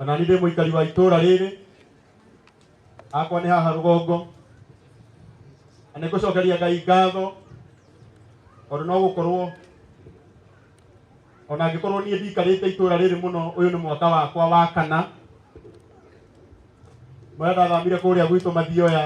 ona nĩ ndĩ mũikari wa itũũra rĩrĩ akwa nĩ haha rũgongo na nĩ ngũcokeria ngai ngatho tondũ no gũkorwo ona angĩkorwo niĩ ndikarĩte itũũra rĩrĩ mũno ũyũ nĩ mwaka wakwa wa kana marĩa ndathamire kũrĩa gwitũ mathioya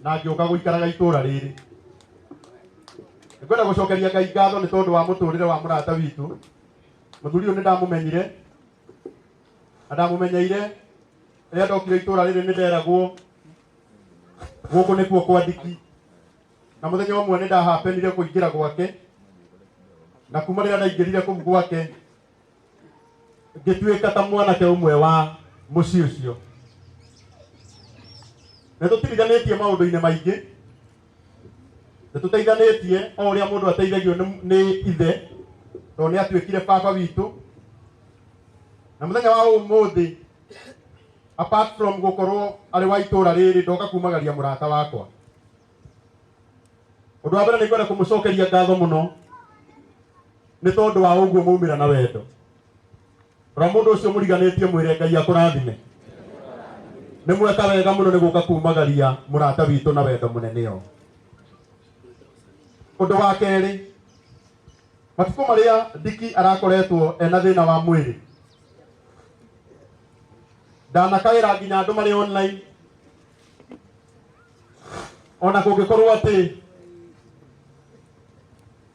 na ngĩũka gũikaraga itũũra rĩrĩ nĩkwenda gũcokeria ngai ngatho nĩ tondũ wa mũtũrĩre wa mũrata witũ Mũthuri ũyũ nĩ ndamumenyire na ndamumenyeire rĩrĩa ndokire itũra rĩrĩ nĩ nderagwo gũkũ nĩkuo kwa ndiki na mũthenya ũmwe nĩ ndahapenire kũingĩra gwake na kuma rĩrĩa ndaingĩrire kũu gwake ngĩtuĩka ta mwanake ũmwe wa mũciĩ ũcio nĩ tũtirithanĩtie maũndũ-inĩ maingĩ nĩ tũteithanĩtie o ũrĩa mũndũ ateithagio nĩ- nĩ ithe tondũ nĩ atuĩkire baba witũ na mũthenya wa ũmũthĩ apart from gũkorwo arĩ wa itũũra rĩrĩ ndoka kumagaria mũrata wakwa ũndũ wa mbere nĩ ngwenda kũmũcokeria ngatho mũno nĩ tondũ wa ũguo maumĩra na wendo rora mũndũ ũcio mũriganĩtie mwĩre ngai akũrathime nĩ mweka wega mũno nĩ gũka kumagaria mũrata witũ na wendo mũnene ũũ ũndũ wa kerĩ matukũ marĩa ndiki arakoretwo ena thĩna wa mwĩrĩ ndanakaĩra nginya andũ marĩ online ona kũngĩkorwo atĩ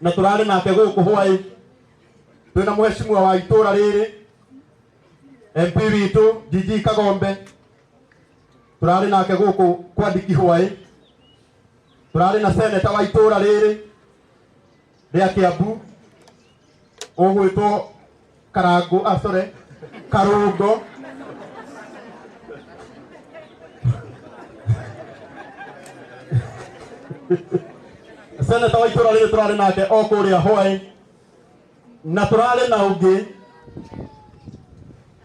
na tũrarĩ nake gũkũ hwaĩ twĩ na mũheshimiwa wa itũra rĩrĩ MP witũ DG Kagombe tũrarĩ nake gũkũ kwa ndiki hwaĩ tũrarĩ na seneta wa itũra rĩrĩ rĩa Kiambu ũgwĩtwo karangu ah, sorry karungo seneta wa itũra rĩrĩ tũrarĩ nake o kũrĩa hwaĩ na tũrarĩ na ũngĩ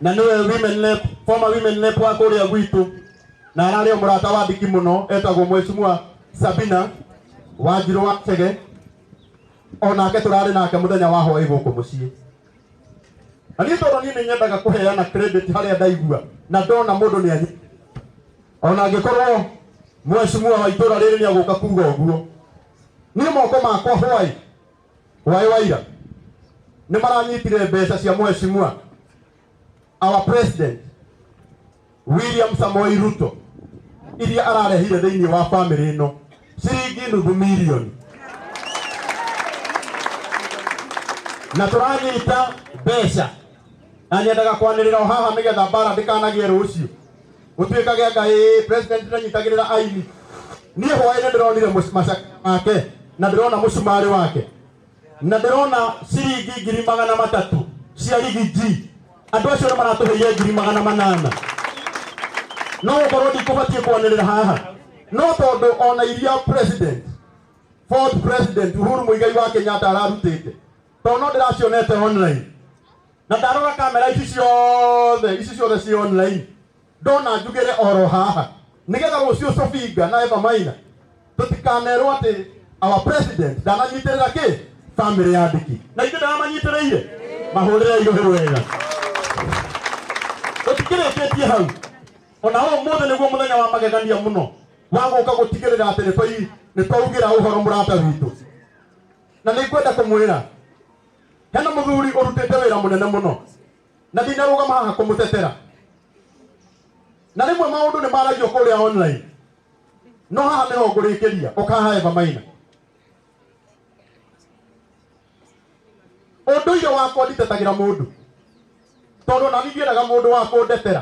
na nĩwe women rep former women rep wa kũrĩa gwitũ na ararĩ o mũrata wa ndiki mũno etagwo mwecimua sabina wanjirũ wa chege o nake tũrarĩ nake mũthenya wa hwaĩ gũkũ mũciĩ na niĩ tondũ niĩ nĩ nyendaga kũheana credit harĩa ndaigua na ndona mũndũ nĩ anyi o na angĩkorwo mwecimua wa itũra rĩrĩ nĩ agũka kuga ũguo niĩ moko makwa hwaĩ hwaĩ waira nĩ maranyitire mbeca cia mwecimua our president William Samoei Ruto iria ararehire thĩinĩ wa bamĩrĩ ĩno ciringi nuthu milioni na tũranyita mbeca na nyendaga kwanĩrĩra o haha nĩgetha mbara ndĩkanagĩe rũciũ gũtuĩkage anga ĩ president ndanyitagĩrĩra aini niĩ hwaĩ nĩ ndĩronire mũc- macakaya make na ndĩrona mũcumarĩ wake na ndĩrona ciringi ngiri magana matatũ cia rigiji andũ acio nĩ maratũheire ngiri magana manana no gũkorwo ndikũbatiĩ kwanĩrĩra haha no tondũ ona iria president fourth president uhuru mũigai wa kenyatta ararutĩte tondũ no ndĩracionete online na ndarora kamera ici ciothe ici ciothe ci online ndona njugĩre oro haha nĩgetha rũciũ Sofinga na Eva Maina tũtikanerwo atĩ our president ndananyitĩrĩra kĩ family ya Ndiki na ithuĩ ndaramanyitĩrĩire mahũrĩre irũhĩ wega tũtikĩrĩkĩtie hau ona ũmũthĩ nĩguo mũthenya wa magegania mũno wa gũka gũtigĩrĩra atĩ nĩ twai- nĩ twaugĩra ũhoro mũrata witũ na nĩ ngwenda kũmwĩra hena mũthuri ũrutĩte wĩra mũnene mũno na ndinarũgama haha kũmũtetera na rĩmwe maũndũ nĩ maragio kũrĩa online no haha nĩho ngũrĩkĩria ũkaha eva maina ũndũire wakwa nditetagĩra mũndũ tondũ ona niĩ ndiendaga mũndũ wa kũndetera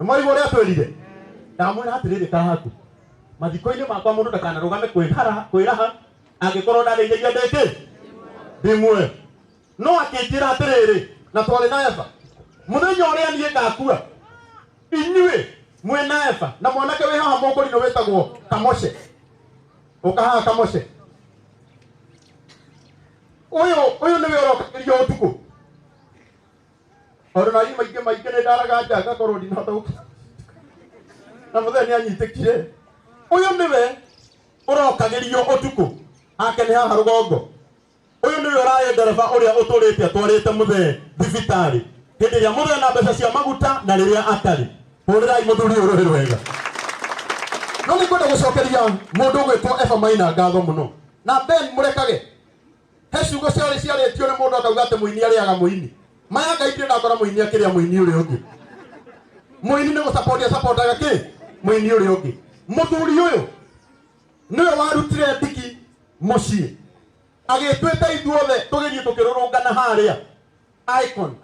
mwaigua ũrĩa atwĩrire ndamwĩra atĩrĩrĩ kahaku mathiko-inĩ makwa mũndũ ndakanarũgame kwĩhara- kwĩraha angĩkorwo ndarĩithĩria ndĩkĩ ndĩ muoyo no akĩnjĩra atĩrĩrĩ na twarĩ na eva mũthenya ũrĩa niĩ ngakua inyuĩ mwĩ na eva na mwanake wĩ haha mũkũrinũ wĩtagwo kamoshe ũka haha kamoshe ũyũ ũyũ nĩwe ũrokagĩria ũtukũ Ona na ima ingĩ maingĩ nĩ ndaraga nja ngakorwo ndinahota gũkira. Na mũthee nĩ anyitĩkire. Ũyũ nĩwe ũrokagĩrio ũtukũ ake nĩ haha rũgongo. Ũyũ nĩwe ũrarĩ ndereba ũrĩa ũtũrĩte atwarĩte mũthee thibitarĩ. Hĩndĩ ĩrĩa mũthee na mbeca cia maguta na rĩrĩa atarĩ. Hũrĩrai mũthuri ũyũ rũhĩ rwega. No nĩ kwenda gũcokeria mũndũ ũgwĩtwo Eva Maina ngatho mũno. Na Ben mũrekage he ciugo ciarĩ ciarĩtio nĩ mũndũ akauga atĩ mũini arĩaga mũini maya ngai ndirĩ ndakora mũini akĩrĩa mũini ũrĩa ũngĩ mũini nĩ gũsapoti asapotaga kĩ mũini ũrĩa ũngĩ mũthuri ũyũ nĩwe warutire ndiki mũciĩ agĩtwĩta ithuothe tũgĩthiĩ tũkĩrũrũngana harĩa icon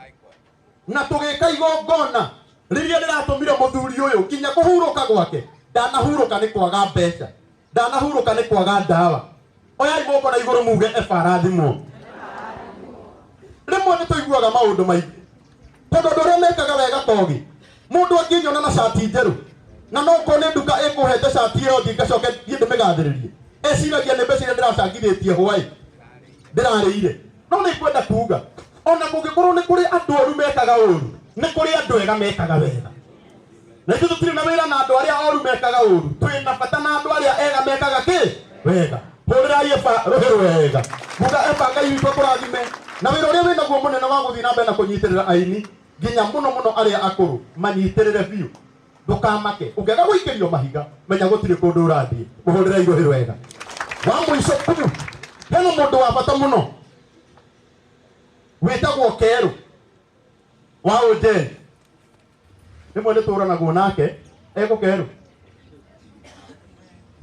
na tũgĩka igongona rĩrĩa rĩratũmire mũthuri ũyũ nginya kũhurũka gwake ndanahurũka nĩ kwaga mbeca ndanahurũka nĩ kwaga ndawa oyai moko na igũrũ muge eba arathimwo rĩmwe nĩ tũiguaga maũndũ maingĩ tondũ andũ arĩa mekaga wega togĩ mũndũ angĩnyona na cati njerũ na no korwo nĩ nduka ĩkũhete cati ĩyo thiĩ ngacoke thiĩ ndĩmĩgathĩrĩrie eciragia nĩ mbeca iria ndĩracangithĩtie hwaĩ ndĩrarĩire no nĩ kwenda kuga ona kũngĩkorwo nĩ kũrĩ andũ oru mekaga ũru nĩ kũrĩ andũ ega mekaga wega na ithuĩ tũtirĩ na wĩra na andũ arĩa oru mekaga ũru twĩ na bata na andũ arĩa ega mekaga kĩ wega hũrĩrai eba rũhĩ rwega muga eba ngai witũ kũrathime na wĩra ũrĩa wĩnaguo mũnene wa gũthiĩ na mbere na kũnyitĩrĩra aini nginya mũno mũno arĩa akũrũ manyitĩrĩre biũ ndũkamake ũngĩaga gũikĩrio mahiga menya gũtirĩ kũndũ ũrathiĩ mũhũrĩrai rũhĩ rwega wa mũico tu hena mũndũ wa bata mũno wĩtagwo kerũ wa ũjeni rĩmwe nĩ tũranagwo nake egũkerũ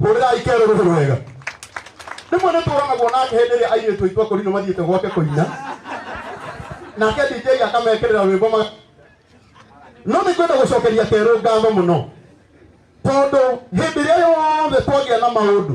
hũrĩrai kerũ rũhũ rwega rĩmwe nĩ tũranagwo nake hĩndĩ ĩrĩa airĩtu aitũ akũrinũ mathiĩte gwake kũina nake DJ akamekĩrĩra rwĩmbo ma no nĩ kwenda gũcokeria kerũ ngatho mũno tondũ hĩndĩ ĩrĩa yothe twagĩa na maũndũ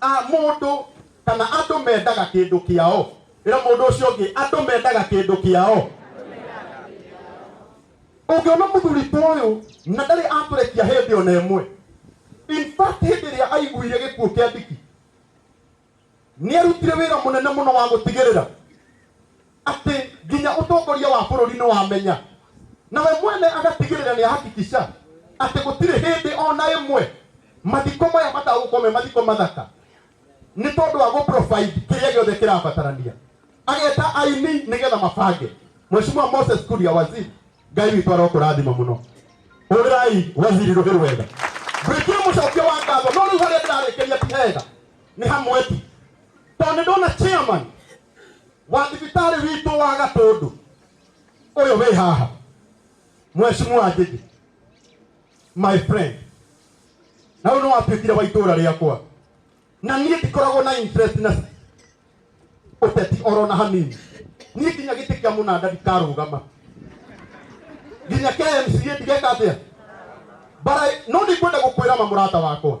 a mũndũ kana andũ mendaga kĩndũ kĩao ĩra mũndũ ũcio ũngĩ andũ mendaga kĩndũ kĩao ũngĩona mũthuri ta ũyũ na ndarĩ atũrekia hĩndĩ ona ĩmwe in fact hĩndĩ ĩrĩa aiguire gĩkuũ kĩa ndiki nĩ arutire wĩra mũnene mũno wa gũtigĩrĩra atĩ nginya ũtongoria wa bũrũri nĩ wamenya nawe mwene agatigĩrĩra nĩ ahakikisha atĩ gũtirĩ hĩndĩ ona ĩmwe mathiko maya matagũkorwo me mathiko mathaka nĩ tondũ wa gũprovide kĩrĩa gĩothe kĩrabatarania ageta aini nĩgetha mabange mweshimua moses kuria waziri ngai witũ arokũrathima mũno ũrĩrai waziri rũhĩ rwega gwĩtia mũcokio wa ngatho no rĩu harĩa ndĩrarĩkĩria ti hega nĩ hamwe tu tondũ nĩ ndona chairman wa thibitarĩ witũ wa gatũndũ ũyũ wĩ haha mweshimua njĩgĩ my friend na ũyũ nĩ watuĩkire wa itũũra rĩakwa na niĩ ndikoragwo na interest na ũteti oro na hanini niĩ nginya gĩtĩ kĩa mũnanda ndikarũgama nginya kmca ndigeka atĩa bara no nĩngwenda gũkwĩra ma mũrata wakwa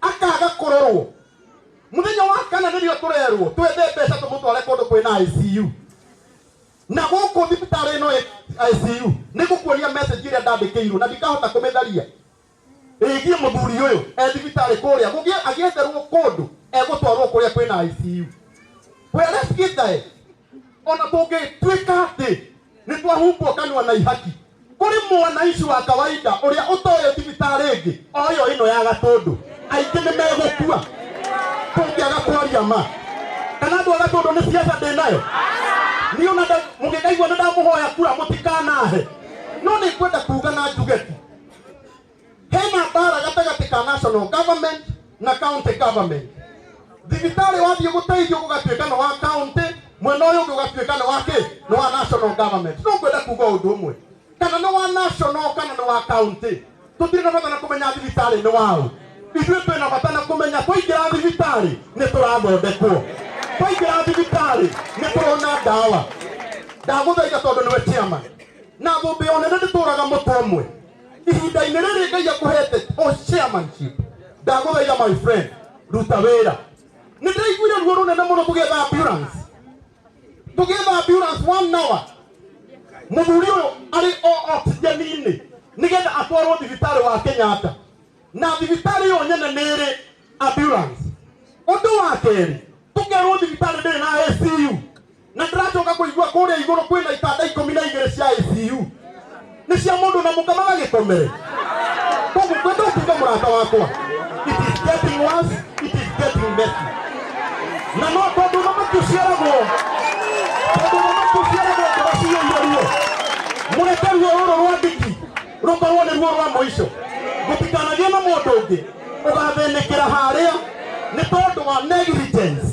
akaga kũrorwo mũthenya wa kana nĩrĩo tũrerwo twethe mbeca tũmũtware kũndũ kwĩna ICU na gũkũ thibitarĩ ĩno ĩ- ICU nĩ gũkuonia message ĩrĩa ndandĩkĩirwo na ndikahota kũmĩtharia ĩgiĩ mũthuri ũyũ e thibitarĩ kũrĩa gũgĩe agĩetherwo kũndũ egũtwarwo kũrĩa kwĩna ICU where let's get there ona tũngĩtuĩka atĩ nĩ twahumbwo kanua na ihaki kũrĩ mwanaici wa kawaida ũrĩa ũtoĩ thibitarĩ ĩngĩ o ĩyo ĩno ya gatũndũ aingĩ nĩ megũkua tũngĩaga kwaria ma kana andũ a gatũndũ nĩ ciaca ndĩ nayo niĩ ona nda- mũngĩkaigua nĩ ndamũhoya kura mũtikanahe no nĩ kwenda kuga na njugeti hena mbara gatagatĩ ka national government na county government thibitarĩ wathiĩ gũteithio gũgatuĩka nĩ wa county mwena ũyũ ũngĩ ũgatuĩka nĩ wa kĩ nĩ wa national government no ngwenda kuga ũndũ ũmwe kana nĩ wa national kana nĩ wa county tũtirĩ na bata na kũmenya thibitarĩ nĩ waũ ithuĩ twĩ na bata na kũmenya twaingĩra thibitarĩ nĩ tũrathondekwo twaingĩra thibitarĩ nĩ tũrona ndawa ndagũthaitha tondũ nĩwe chairman na thũmbĩ o nene ndĩtũraga mũtwe ũmwe ihinda-inĩ rĩrĩ ngai akũhete o chairmanship ndagũthaitha my friend ruta wĩra nĩ ndaiguire ruo rũnene mũno tũgĩetha ambulance tũgĩetha ambulance one hour mũthuri ũyũ arĩ o oxygen-inĩ nĩgetha atwarwo thibitarĩ wa kenyatta na thibitarĩ yonye nĩ ĩrĩ ambulance ũndũ wa kerĩ tũkerwo thibitarĩ ndĩrĩ na ACU na ndĩracoka kũigua kũrĩa igũrũ kwĩna itanda ikũmi na igĩrĩ cia ACU nĩ cia mũndũ na mũka magagĩkomere koguo kwenda ũtuge mũrata wakwa it is getting worse it is getting messy na no tondũ thamaki ũciaragwo tondũ thamaki ũciaragwo ngoro ciyũire ruo mũreke ruo rũrũ rwa ndiki rũkorwo nĩruo rwa mũico gũtikanagĩe na mũndũ ũngĩ ũgathĩnĩkĩra harĩa nĩ tondũ wa negligence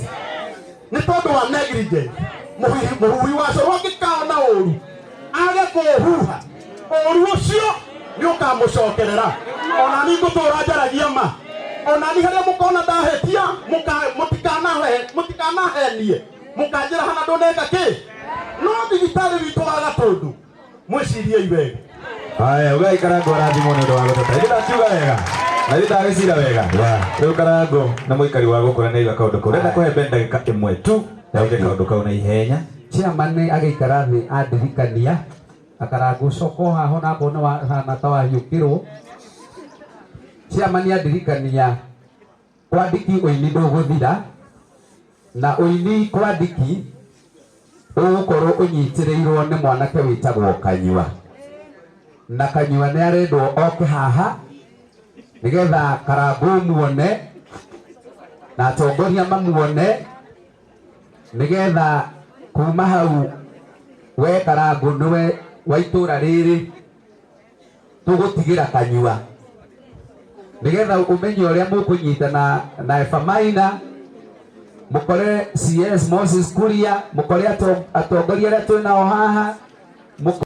nĩ tondũ wa negligence Mũhuhi- mũhuhi wa coro angĩkaona ũru age kũũhuha ũru ũcio nĩ ũkamũcokerera ona ni ngũtũra njaragia ma ona ni harĩa mũkona ndahĩtia mũka- mũtikanahe- mũtikanahenie mũkanjĩra hana ndũneka kĩ no thibitarĩ witũ wa gatũndũ mwĩcirie iwega haya ugai karango arathimwo nĩ ũndũ wa gũteta ĩndĩ ndakiuga wega na ĩndĩ ndagĩcira wega rĩu karango nĩ mũikari wa gũkũ na nĩaiga kaũndũ kau renda kũhe ben ndagĩka ĩmwe tu yauge kaũndũ kau na ihenya chairman agĩikara thĩ andirikania akarangu ũcoka o haha ona akorwo nĩ wahana ta wahiũkĩrwo chairman andirikania Kwandiki ũini ndũgũthira, na ũini Kwandiki ũgũkorwo ũnyitĩrĩirwo nĩ mwanake wĩtagwo Kanyua. Na Kanyua nĩ arendwo oke haha nĩgetha Karangũ muone na atongoria mamuone nĩgetha kuma hau we Karangũ nĩwe wa itũra rĩrĩ. tũgũtigĩra kanyua nĩgetha ũmenye ũrĩa mũkũnyita na na efamaina mũkore cs moses kuria mũkore ato- atongoria arĩa twĩ nao haha mũko-